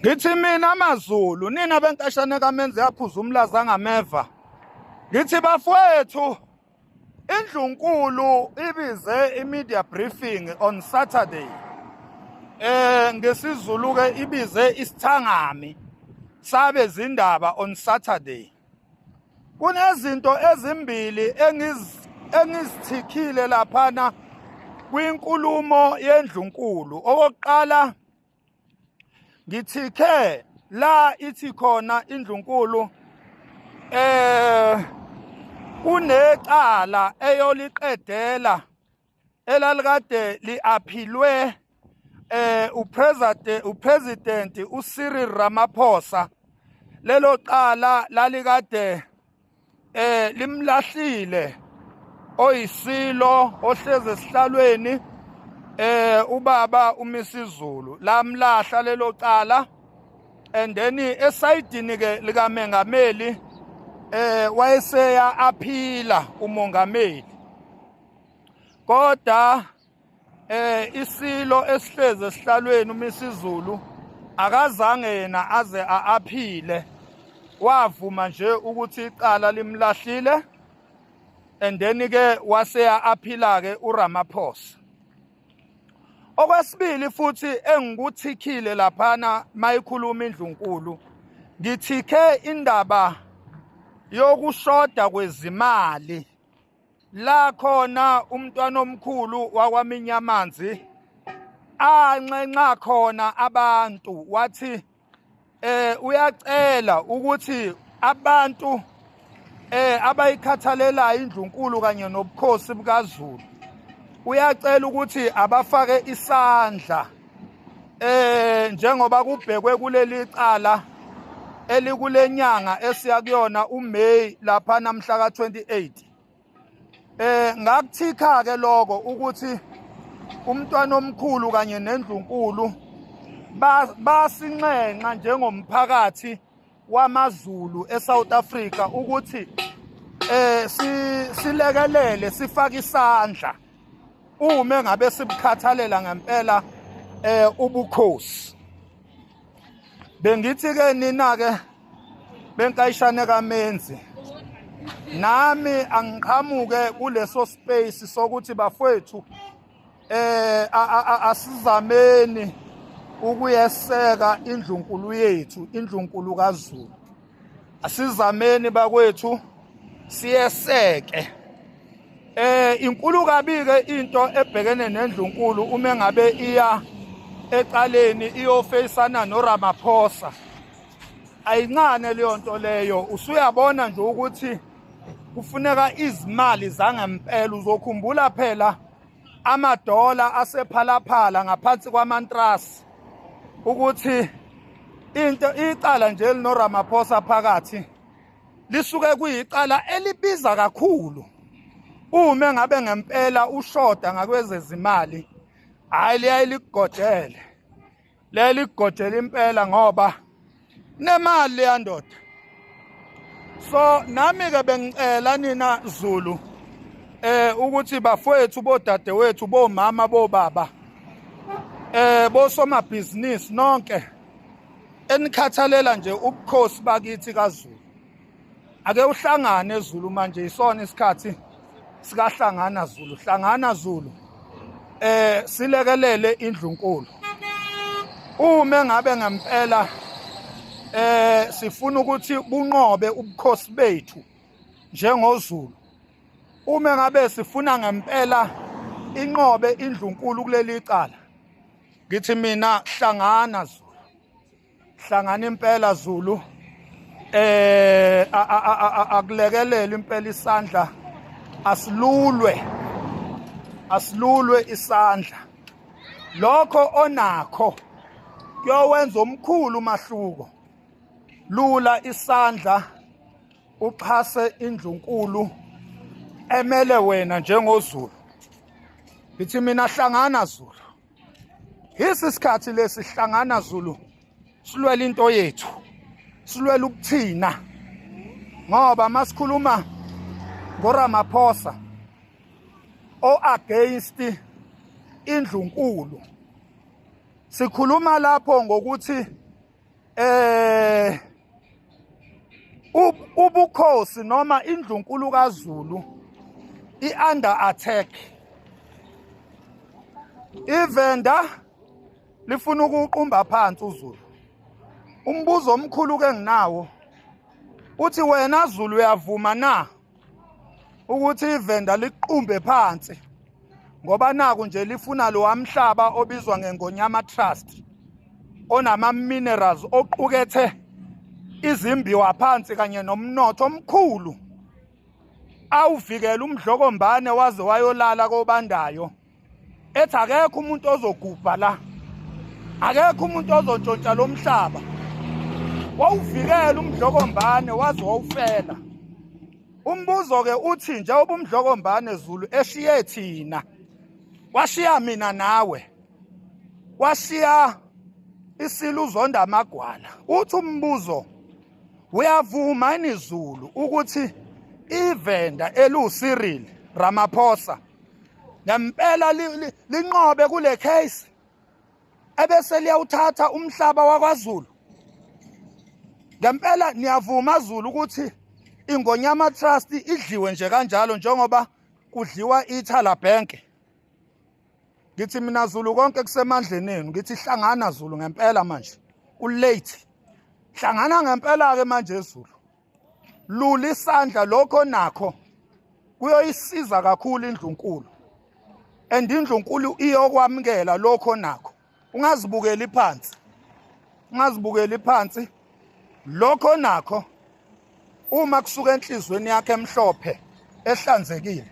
ngithi mina amazulu nina benkashane kamenze yaphuza umlaza ngameva ngithi bafowethu Indlunkulu ibize i-media briefing on Saturday eh ngesizulu ke ibize isithangami sabe zindaba on Saturday kunezinto ezimbili engiz engizithikhile laphana kwinkulumo yendlunkulu okokuqala ngithikhe la ithi khona indlunkulu eh kunecala eyoliqedela elalikade liaphilwe eh upresident upresident uCyril Ramaphosa lelo cala lalikade eh limlahlile oyisilo ohleze esihlalweni eh ubaba umisizulu lamlahla lelo cala and then esayidini ke likamengameli eh wayeseya aphila umongameli kodwa eh isilo esihleze esihlalweni uMisizulu akazange yena aze aaphile wavuma nje ukuthi icala limlahlile and then ke waseya aphila ke uRamaphosa okwesibili futhi engikuthikile laphana mayikhuluma indlunkulu ngithike indaba yokushoda kwezimali la khona umntwana omkhulu wakwaminyamanzi anxenxa khona abantu wathi eh uyacela ukuthi abantu eh abayikhathalelayo indlunkulu kanye nobukhosi bukaZulu uyacela ukuthi abafake isandla eh njengoba kubhekwe kuleli cala elikulenyanga esiya kuyona uMay lapha namhla ka28 eh ngakuthikha ke lokho ukuthi umntwana omkhulu kanye nendlunkulu basinxenxa njengomphakathi wamaZulu eSouth Africa ukuthi eh silekelele sifake isandla uma ngabe sibukhathalela ngempela eh ubukhosi bengithi ke nina ke benkayishane kamenzi nami angiqhamuke kuleso space sokuthi bafwethu eh asizameni ukuyeseka indlunkulu yethu indlunkulu kaZulu asizameni bakwethu siyeseke eh inkulu kabike into ebhekene nendlunkulu uma ngabe iya eqaleni iyofeyisana noRamaphosa ayincane leyo nto leyo usuyabona nje ukuthi kufuneka izimali zangempela uzokhumbula phela amadola asephalaphala ngaphansi kwamantrasi ukuthi into icala nje linoRamaphosa phakathi lisuke kuyicala elibiza kakhulu uma ngabe ngempela ushoda ngakwezezimali hayi liyaye ligojele leli kugojela impela ngoba nemali leya ndoda so nami ke bengicela nina Zulu eh ukuthi bafowethu bodadewethu bomama bobaba eh bosomabhizinisi nonke enikhathalela nje ubukhosi bakithi kaZulu ake uhlangane Zulu manje yisona isikhathi sikahlangana Zulu hlangana Zulu eh silekelele indlunkulu uma ngabe ngempela eh sifuna ukuthi bunqobe ubukhosi bethu njengozulu uma ngabe sifuna ngempela inqobe indlunkulu kuleli cala ngithi mina hlangana Zulu hlangana impela Zulu eh akulekelele impela isandla asilulwe asilulwe isandla lokho onakho kuyowenza omkhulu umahluko lula isandla uxhase indlunkulu emele wena njengozulu ngithi mina hlangana zulu Yisi sikhathi lesi hlangana Zulu silwela into yethu silwela ukuthina ngoba masikhuluma ngoRamaphosa o against indlunkulu sikhuluma lapho ngokuthi eh ubukhosi noma indlunkulu kaZulu iunder attack ivenda lifuna ukuqumba phansi uZulu umbuzo omkhulu ke nginawo uthi wena Zulu uyavuma na ukuthi ivenda liqumbe phansi ngoba naku nje lifuna lo wamhlaba obizwa ngeNgonyama Trust onama minerals oqukethe izimbiwa phansi kanye nomnotho omkhulu awuvikela umdlokombane waze wayolala kobandayo ethi akekho umuntu ozogubha la akekho umuntu ozontshontsha lo mhlaba wawuvikela umdlokombane waze wawufela umbuzo-ke uthi njengoba umdlokombane zulu eshiye thina washiya mina nawe washiya isilo uzonda amagwala uthi umbuzo uyavuma inizulu ukuthi ivenda eluwusirili ramaphosa ngempela linqobe kule case ebese liyawuthatha umhlaba wakwaZulu ngempela niyavuma Zulu ukuthi ingonyama trust idliwe nje kanjalo njengoba kudliwa ithala bank ngithi mina Zulu konke kusemandleni enu ngithi hlangana Zulu ngempela manje ku late hlangana ngempela ke manje Zulu lula isandla lokho nakho kuyoyisiza kakhulu indlunkulu and indlunkulu iyokwamukela lokho nakho ungazibukeli phansi ungazibukeli phansi lokho nakho uma kusuka enhlizweni yakhe emhlophe ehlanzekile